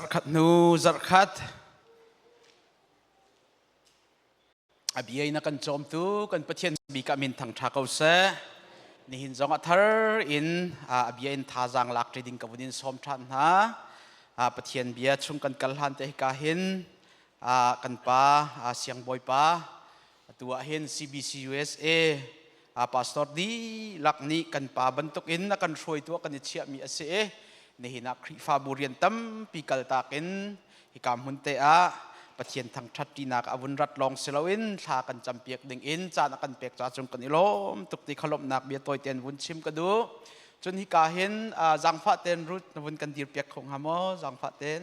Zarkhat nu zarkhat a bia in a kan cawmtu kan Pathian bikah min thangtha ko seh nihin zong a thar in a bia in thazang lak ti ding ka vun in sawm than hna Pathian bia chung kan kal hlan te hika hin kan pa siang bawipa Atu ah hin CBCUSA a pastor dihlak nih kan pa bantuk in a kan hruaitu a kan i chiahmi a si i nihin ah Khrihfabu rian tampi kaltak in hika hmun te ah Pathian thangṭhatṭinak a vun rat lawng si loin thla kan campiak ding in caan a kan pek caah cun kan i lawm tuk ti kha lawmhnak bia tawi tein vun chim ka duh. Cun hika hin zangfah tein rut na vun kan dir piak kho hnga maw? Zangfah tein.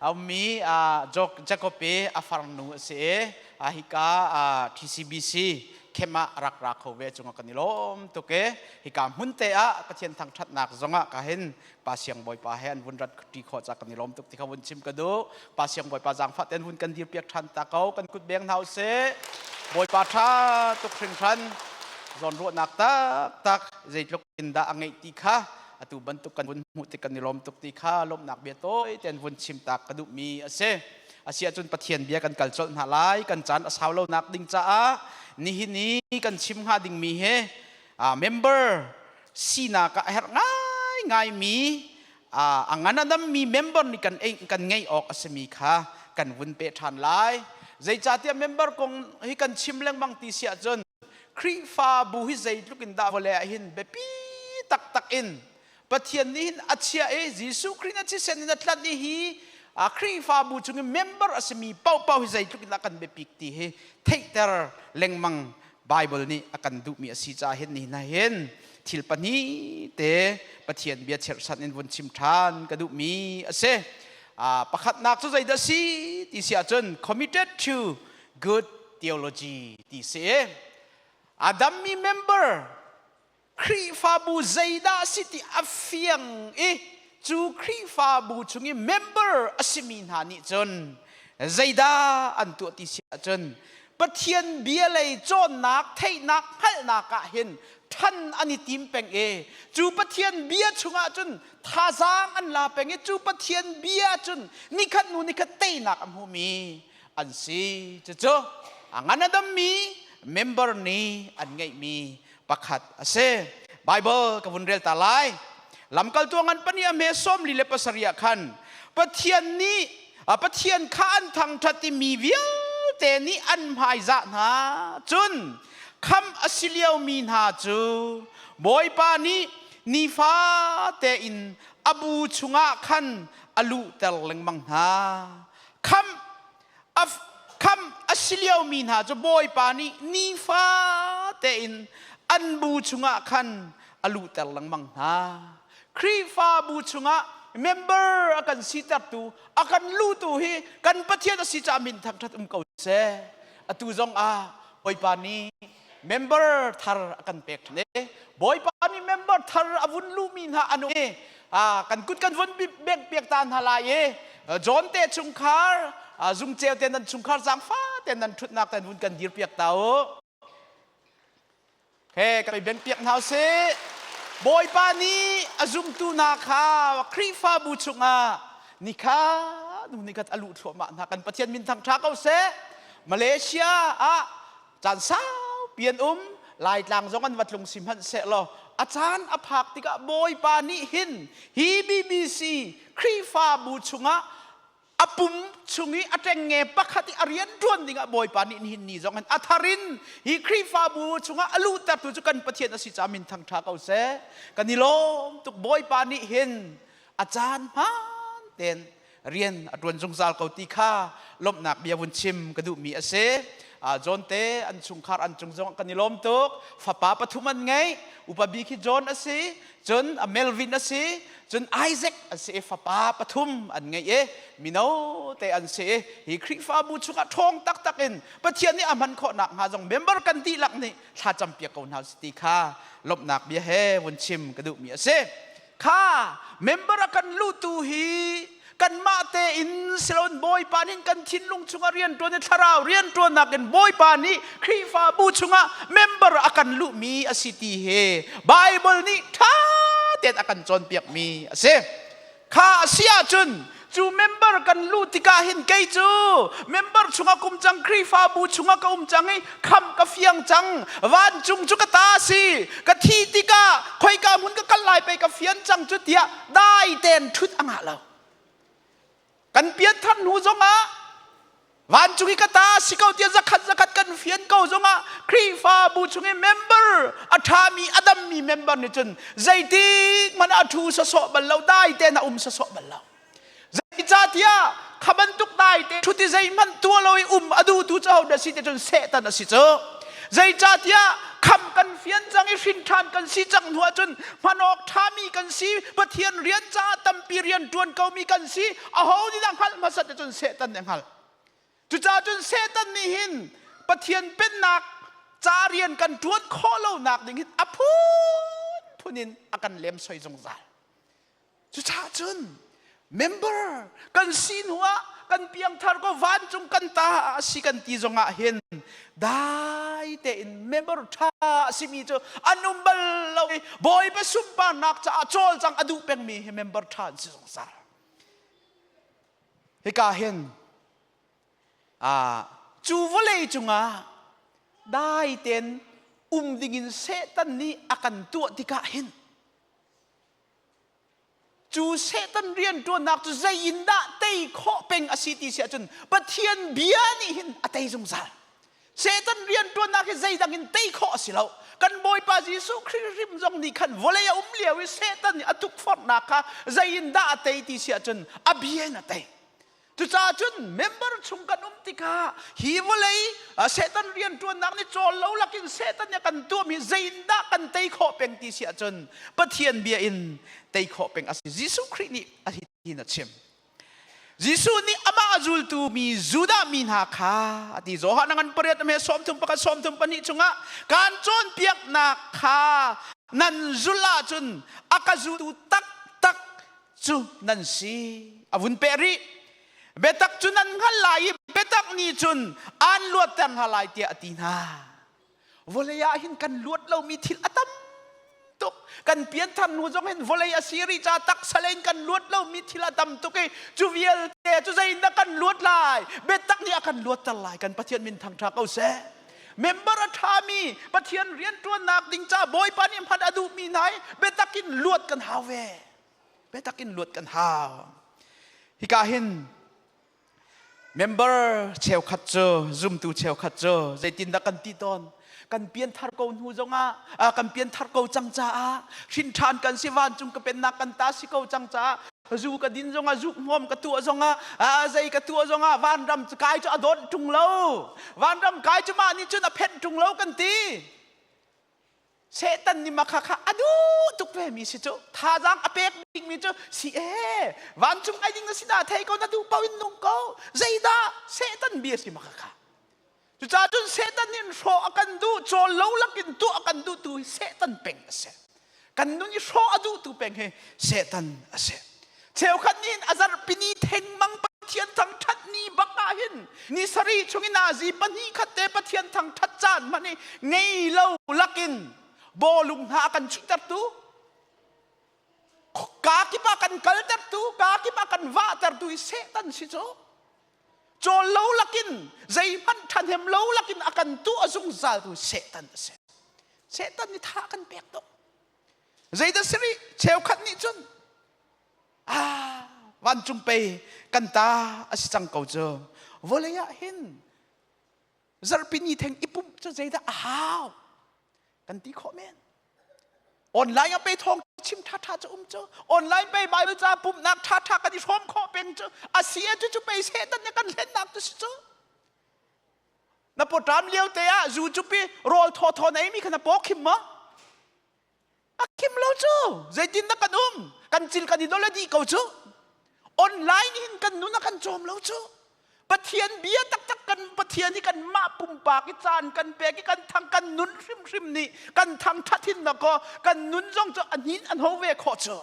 A ummi Jacob i a farnu a si i hika TCBC camp ah rak ra kho ve cungah kan i lawm tuk i hika hmunte ah Pathian thangṭhatnak zongah ka hin Pa Siang Bawipa he an vun ratṭi khawh ca kan i lawm tuk ti kha vun chim ka duh Pa Siang Bawipa zaangfah tein vun kan dirpiak ṭhan ta ko kan kut beng hna u sih Bawipa ṭha tuk hringhran zawnruahnak taktak zeitluk in dah a ngeih ti kha atu bantuk kan vun hmuh tik kan i lawm tuk ti kha lawmhnak bia tawi tein vun chim tak ka duhmi a si asiahcun pathian bia kan kal colh hna lai kan caan a sau lonak ding caah nihin i kan chim hnga dingmi he member sinak ah herh ngaingai mi a ngan adammi member nih kan kan ngei awk a simi kha kan vun pe ṭhan lai zeicahtiah member kong hi kan chim lengmang ti si ahcun Khrihfabu hi zeitluk in dah vawlei ah hin biapi taktak in Pathian nih hin a chiah i Jesuh Khrih in a thisen in a tlanh i hi Khrihfabu chung i member a simi paohpaoh hi zeitluk in dah kan biapik ti hi theihter lengmang Bible nih a kan duhmi a si caah hin nihin ah hin thil pahnih te Pathian bia cherhsan in vun chim ṭhan ka duhmi a si. pakhatnak cu zeidah a si ti si ahcun committed to good theology ti si a dammi member Khrihfabu zeidah si ti a fiang i cu Khrihfabu chung i member a simi hna nih cun zeidah an tuah ti si ahcun Pathian bia lei cawnnak theihnak hngalhnak ah hin ṭhan an i tim peng i cu Pathian bia chungah cun thazaang an la peng i cu Pathian bia cun nikhat hnu nikhat teinak a hmumi an si cucu a ngan a dammi member nih an ngeihmi pakhat a si Bible ka vun rel ta lai lamkaltu ngan pani a hme sawmli le pasarih ah khan Pathian nih Pathian kha an thangṭhat i mi vialte nih an hmaizah hna cun kham a si liomi hna cu Bawipa nih nifa tein a bu chungah khan a luhter lengmang hna kham a, kham a si liomi hna cu Bawipa nih nifa tein an bu chungah khan a luhter lengmang hna. Khrihfabu chungah member a kan sitertu, a kan lutu hi kan Pathian a si caah min thangṭhat um ko seh. Atu zong ah Bawipa nih member thar a kan pek ṭhan i bawipa mi member thar a vun luhmi hna anu i kan kut kan vun bek piak ta hna lai i John te chungkhar zungceu te nan chungkhar zaangfah te nan ṭhutnak te vun kan dir piak ta u he kan i ben piak hna u sih bawipa nih a zumtu hna kha khrihfabu chungah ni kha nu ni khat a luh thluahmah hna kan pathian min thangṭha ko seh malaysia ah caan saupi an um Laitlang zong an va tlung si hmanh sehlaw a caan a phak tikah Bawipa nih hin hi BBC Khrihfabu chungah a pum chung i a ṭengnge pakhat i a rian ṭuan dingah Bawipa nih nihin ni zong hin a thar in hi Khrihfabu chungah a luhtertu cu kan Pathian a si caah min thangṭha ko seh kan i lawm tuk Bawipa nih hin a caan hmaan tein rian a ṭuan zungzal ko ti kha lawmhnak bia vun chim ka duhmi a si. John te an chungkhar an cung zong kan i lawm tuk. Fapa pathum an ngei. Upa bik hi John a si, cun a Melvin a si, cun Isaac a si i fapa pathum an ngei i mino te an si i hi Khrihfabu chungah ṭhawng taktak in Pathian nih a hman khawh nakhnga zong member kan dihlak nih thla campiak ko hna u ti kha lawmhnak bia he vun chim ka duhmi a si. kha member a kan luhtu hi kanmah tein siloin bawipa nih kan thinlung chungah rianṭuan i thlarau rianṭuannak in bawipa nih Khrihfabu chungah member a kan luhmi a si ti hi Bible nih ṭha tein a kan cawnpiakmi a si. Kha a si ahcun cu member kan luh tikah hin kei cu member chungah ka um cang Khrihfabu chungah ka um cang i kham ka fiang cang vancung cu ka ta si ka thi tikah khoika hmun ka kal lai pei ka fian cang cu tiah dai tein ṭhut a ngah lo kan pian thar hnu zongah Vancung i ka ta si ko tiah zakhat zakhat kan fian ko zongah Khrihfabu chung i member a ṭhami a dammi member nih cun zeitik hmanh a ṭhu sawsawh bal lo dai tein a um sawsawh bal lo. Zeicahtiah kha bantuk dai te ṭhut i zeihmanh tua lo i um a duhtu cu hodah si ti cun Satan a si cu. Zeicahtiah kham kan fian cang i hrin ṭhan kan si cang hnu ahcun hman awk ṭhami kan si, Pathian rian caah tampi rian ṭuan komi kan si, Aho nih dah hngalh hmasat ti cun Satan nih a hngalh. Cucaah cun Satan nih hin Pathian pennak ca rian kan ṭuan khawh lonak ding hin a phunphun in a kan lemsoi zungzal. Cucaah cun member kan si hnuah kan piangthar ko vancung kan ta a si kan ti zongah hin dai tein member ṭha a simi cu an um bal lo i Bawipa sunparnak caah cawlcang a duh pengmi hi member ṭha an si zungzal. Hika hin cu vawlei cungah dai tein um dingin Satan nih a kan tuah tikah hin cu Satan rianṭuannak cu zei in dah tei khawh peng a si ti si ahcun Pathian bia nih hin a tei zungzal. Satan rianṭuannak hi zeidang in tei khawh a si lo. Kan Bawipa Jesuh Khrih hrim zong nih khan vawlei a um lio i Satan nih a tukforhnak kha zei in dah a tei ti si ahcun a bia in a tei. Cucaah cun member chung kan um tikah hi vawlei Satan rianṭuannak nih cawl lo lakin Satan nih a kan tuahmi hi zeitindah kan tei khawh peng ti si ahcun Pathian bia in tei khawh peng a si. Jesuh Khrih nih a hitin a chim. Jesuh nih amah a zultu mi Judah mi hna kha a ti Johan ngan pariat me sawm thum pakhat sawm thum pahnih chungah kan cawnpiaknak kha nan zulh ahcun a ka zultu taktak cu nan si a vun peh rih biatak cu nan hngal lai i biatak nih cun an luatter hna lai tiah a ti hna vawlei ah hin kan luat lomi thil a tam tuk kan pianthar hnu zong hin vawlei a si rih ca taksa le in kan luat lomi thil a tam tuk i cu vialte cu zeidah kan luat lai biatak nih a kan luatter lai kan pathian min thangṭha ko seh member a ṭhami pathian rianṭuannak ding ca bawipa nih hman a duhmi hna i biatak in luat kan hau ve biatak in luat kan hau hika hin Member cheukhat cu zumtu cheukhat cu zeitindah kan ti tawn kan pianthar ko hnu zongah ah kan pianthar ko cang caah hrinṭhan kan si vancung ka pennak kan ta si ko cang caah zu ka din zongah zuk hnuam ka tuah zongah a zei ka tuah zongah vanram kai cu a dawt ṭung lo vanram kai cu mah nih cun a phenh ṭung lo kan ti Satan nih makha kha a duh tuk vemi si cu thazaang a pek dingmi cu si ee vancung ai ding na si dah thei ko na duh paoh in nung ko zeidah Satan bia si makha kha cucaah cun Satan nih hrawh a kan duh cawl lo lakin tuah a kan duhtu hi Satan peng a si kan nun i hrawh a duhtu peng hi setan a si cheukhat nih a zarhpini thengmang pathian thangṭhat ni bak ah hin ni sari chung in nazi pahnih khat te pathian thangṭhat caan hman i ngei lo lakin bawlung hna a kan chuhtertu kaa kip ah kan kaltertu kaa kip ah kan vahtertu i setan si cu Cawn lo lakin, zeihmanh ṭhahnem lo lakin a kan tuah a zungzaltu Satan a si. Satan nih tha kan pek tuk. Zeidah si rih? Cheukhat nih cun, ah, vancung pei kan ta a si cang ko cu. Vawlei ah hin zarhpini theng i pumh cu zeidah a hau kan ti khawh men online a pe thawng chim ṭhaṭha cu um cu online pe bible ca pumhnak ṭhaṭha kan i hrawm khawh peng cu a si e cu cu pe setan ne kan hlennak tu si cu na poṭam lio te ah zu cupi rawl thaw thaw nei mi kha na paw khim maw a kim lo cu zeitin dah kan um kan cin kan i dol a dih ko cu online hin kan nun a kan cawm lo cu pathian bia taktak kan pathian hi kan mah pumpak i caan kan pek i kan thang kan nun hrimhrim nih kan thang thathin na ko kan nun zong cu a nin an ho ve khawh cu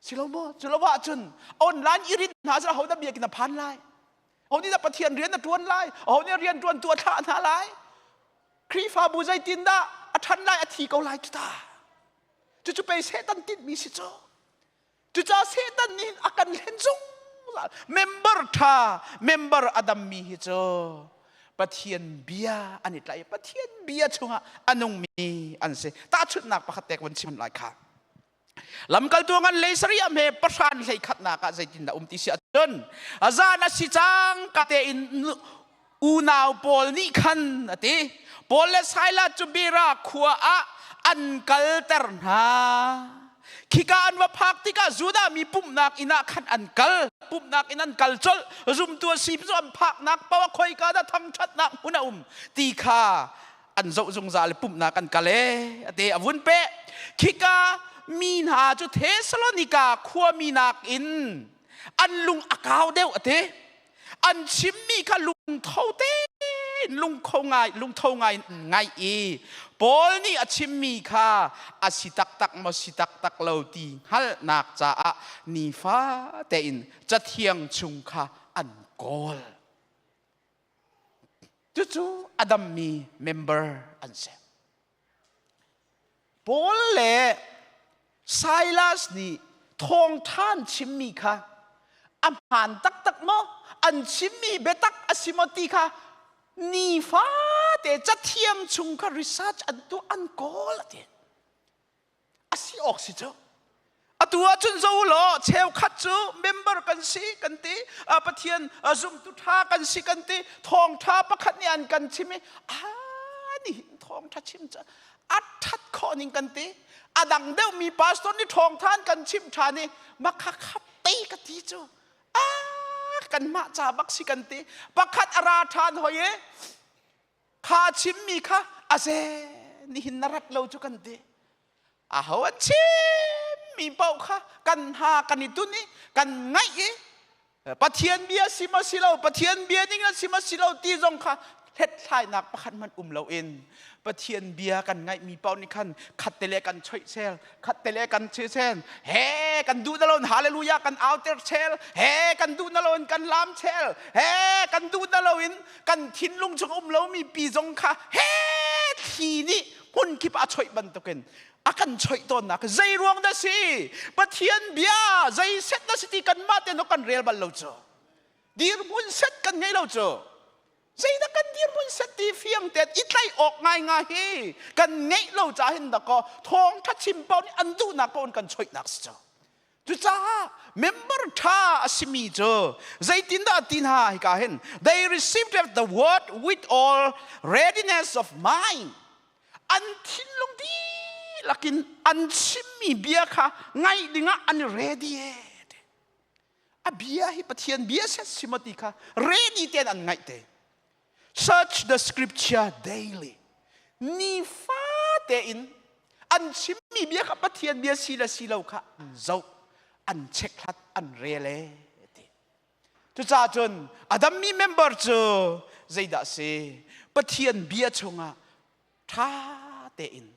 Si lo maw? Cu lo ahcun online i rit hna cu ahodah biakinn a phan lai? Ho nih dah Pathian rian a ṭuan lai? Ho nih rian ṭuantu a thlah hna lai? Khrihfabu zeitindah a ṭhan lai, a thi ko lai cuta? Cucu pei Satan tinhmi si cu. Cucaah Satan nih a kan hlen zungzal. Member ṭha, member a dammi hi cu Pathian bia an i tlaih i Pathian bia chungah a nungmi an si. Tahchunhnak pakhat te ka vun chim lai kha. lamkaltu ngan lei sariah hme pahran hlei khatnak ah zeitindah um ti si ahcun azan a si cang ka tein unau pawl nih khan a ti Paul le Silas cu bira khua ah an kalter hna khika an va phak tikah Judah mi pumhnak inn ah khan an kal pumhnak in an kal colh zumtu a si cu an phaknak paoh a khoika dah thangṭhatnak hmun a um ti kha an zoh zungzal i pumhnak an kal e a te a vun pe khika mi hna cu Thesalonica khuami nakin an lung a kau deuh a ti an chimmi kha lungtho te lungtho ngai lungtho ngai ngai i Paul nih a chimmi kha a si taktak maw si taktak lo ti hngalhnak caah nifa tein cathiang chung kha an kawl Cucu a dammi member an si. Paul le Silas nih thawngṭhan chimmi kha a hmaan taktak maw? An chimmi biatak a si maw ti kha nifate cathiam chung kha research an tuah an kawl a ti. a si awk si cu atu ahcun zo law cheukhat cu member kan si kan ti pathian zumtu ṭha kan si kan ti thawngṭha pakhat nih an kan chim i a nihin thawngṭha chim cu a ṭhat khawh ning kan ti a dang deuh mi pastor nih ṭhawngthan kan chimh ṭhan i makha khap pei ka ti cu a kanmah ca bak si kan ti pakhat a ra ṭhan hoi e kha a chimmi kha a ze nihin na rat lo cu kan ti aho a chimmi paoh kha kan ha kan i tun i kan ngaih i pathian bia si ma si lo pathian bia dingin si ma si lo ti zong kha hlethlainak pakhat hmanh um lo in pathian bia kan ngaihmi paoh nih khan khatte le kan choih sel khatte le kan chi sel he kan duh na loin hallelujah kan auter sel he kan duh na loin kan lam sel he kan duh na loin kan thinlung chung a um lomi pi zong kha he thli nih hmunkip a choih bantukin a kan choih tawnnak zei ruang dah si pathian bia zei set dah si ti kanmah ten kan rel bal lo cu dirhmun set kan ngei lo cu zeidah kan dirhmun set ti fiang ten i tlaih awk ngai nga hi kan ngeih lo ca hin dako thawngtha chim pau nih an duhnak pawn kan choihnak si cu Cucaah member ṭha a simi cu zeitindah ti hna hika hin they received the word with all readiness of mind an thinlung dihlak in an chimmi bia kha ngaih dingah an i ready a bia hi Pathian bia set si maw ti kha ready tein an ngaih te Such the scripture daily. Nifate in an chimmi bia kha Pathian bia si le si lo kha an zoh, an checkhlat, an rele ti. Cucaah cun Adam mi member cu zeidah si Pathian bia chungah ṭha tein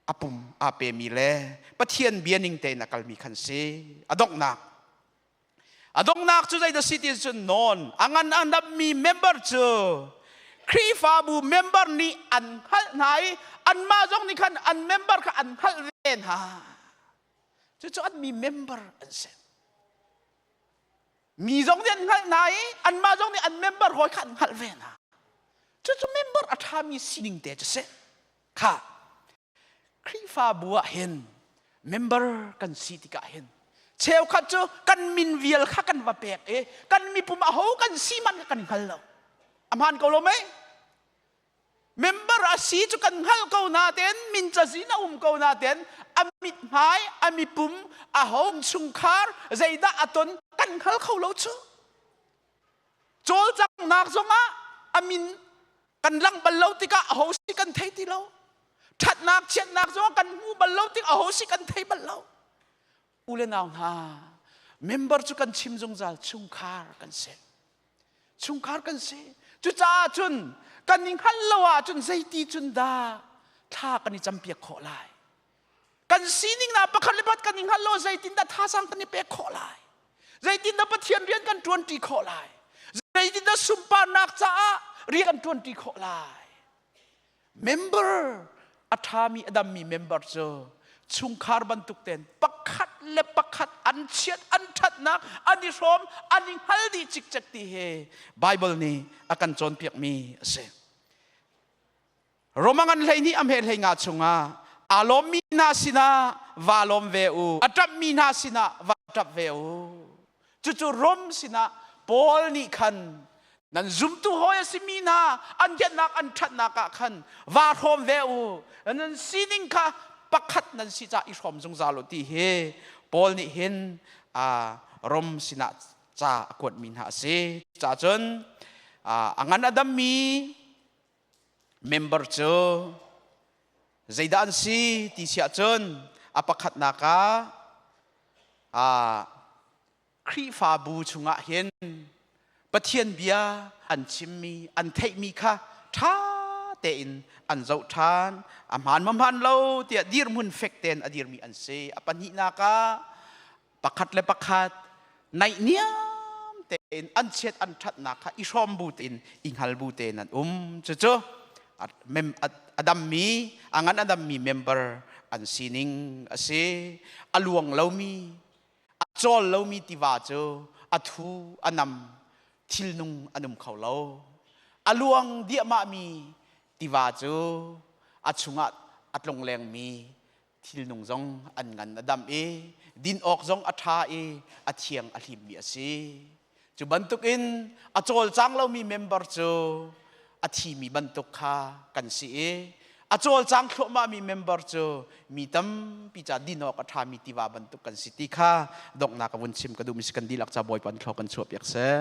a pum aa pemi le Pathian bia ning tein a kalmi khan si. A donghnak A donghnak cu zei dah si ti cun nawn a ngan a nammi member cu Khrihfabu member nih an hngalh hna i anmah zong nih khan an member kha an hngalh ve hna. Cucu anmi member an si. Mi zong nih an hngalh hna i anmah zong nih an member hawi kha an hngalh ve hna. Cucu member a ṭhami sining te cu si. Kha Khrihfabu ah hin member kan si tikah hin cheukhat cu kan min vial kha kan va pek i kan mipum aho kan si man kan hngal lo a hmaan ko lo mei member a si cu kan hngal ko natein min cazin a um ko natein a mit hmai a mipum a home chungkhar zeidah a ton kan hngal kho lo cu cawlcanghnak zongah a min kan lang bal lo tikah aho si kan thei ti lo ṭhatnak chiatnak zongah kan hmu bal lo tik aho si kan thei bal lo u le nau hna member cu kan chim zungzal chungkhar kan si chungkhar kan si cucaah cun kan i hngalh lo ahcun zeiti cun dah thla kan i campiak khawh lai kan sining na pakhat le pat kan i hngal lo zeitindah thazang kan i pek khawh lai zeitindah pathian rian kan ṭuanṭi khawh lai zeitindah sunparnak caah rian kan ṭuanṭi khawh lai member a ṭhami a dammi member cu chungkhar bantuk ten pakhat le pakhat an chiat an ṭhatnak an i hrawm an i hngal dih cikcek ti he Bible nih a kan cawnpiakmi a si Roma ngan hleihnih a hme hlei nga chungah aa lawmmi hna sinah va lawm ve u a ṭapmi hna sinah va ṭap ve u cucu Rom sinah Paul nih khan nan zumtu hawi a simi hna an kennak an ṭhatnak ah khan va hrawm ve u nan sining kha pakhat nan si ca i hrawm zungzal u ti hi Paul nih hin Rom sinah ca a kuatmi hna a si cahcun a ngan a dammi member cu zeidah an si ti si ahcun a pakhatnak ah Khrihfabu chungah hin Pathian bia an chimmi an theihmi kha ṭha tein an zoh ṭhan a hmaan mahmaan lo tiah dirhmun fek tein a dirmi an si a pahnihnak ah pakhat le pakhat naihniam tein an chiat an ṭhatnak kha i hrawm bu tein i hngal bu tein an um cucu a dammi a ngan a dammi member an sining a si a luang lomi a cawl lomi tiva cu a thu a nam thilnung an um kho lo a luang diahmahmi tiva cu a chungah a tlonglengmi thilnung zong an ngan a dam i din awk zong a ṭha i a thiang a hlimmi a si. Cu bantukin a cawlcang lomi member cu a thimi bantuk kha kan si i a cawlcang thluahmahmi member cu mi tampi ca din awk a ṭhami tiva bantuk kan si ti kha donghnak ka vun chim ka duhmi si kan dihlak ca bawipa thlaw kan chuahpiak seh.